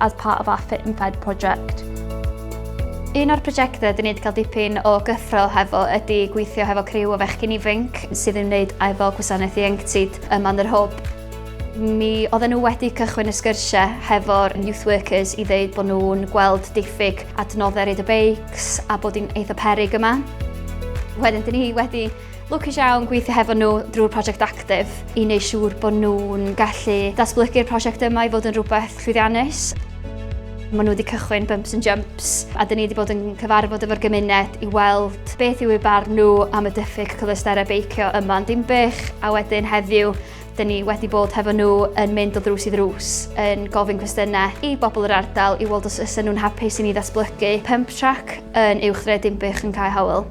as part of our Fit and Fed project. Un o'r prosiectau dyn ni wedi cael dipyn o gyffrol hefo ydy gweithio hefo criw o fechgyn ifanc sydd yn wneud efo gwasanaeth ieuenctid ym Manor Hwb. Mi oedden nhw wedi cychwyn y sgyrsiau hefo'r youth workers i ddeud bod nhw'n gweld diffyg adnoddau reid y beics a bod hi'n eitha perig yma. Wedyn, dyn ni wedi Lwcus iawn gweithio hefo nhw drwy'r prosiect Actif i wneud siŵr bod nhw'n gallu datblygu'r prosiect yma i fod yn rhywbeth llwyddiannus. Maen nhw wedi cychwyn Bumps and Jumps a dyn ni wedi bod yn cyfarfod efo'r gymuned i weld beth yw ei barn nhw am y diffyg cyfleusterau beicio yma yn Dinbych a wedyn heddiw dyn ni wedi bod hefo nhw yn mynd o ddrws i ddrws yn gofyn cwestiynau i bobl yr ardal i weld os ysa nhw'n hapus i ni ddatblygu pump track yn uwch dre Dinbych yn Cae Howell.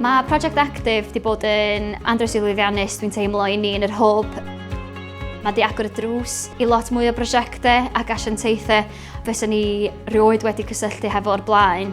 Mae Project Active wedi bod yn andros i lwyddiannus, dwi'n teimlo, i ni yn yr hwb. Mae wedi agor y drws i lot mwy o brosiectau ac asiantaethau fes ni rioed wedi cysylltu hefo o'r blaen.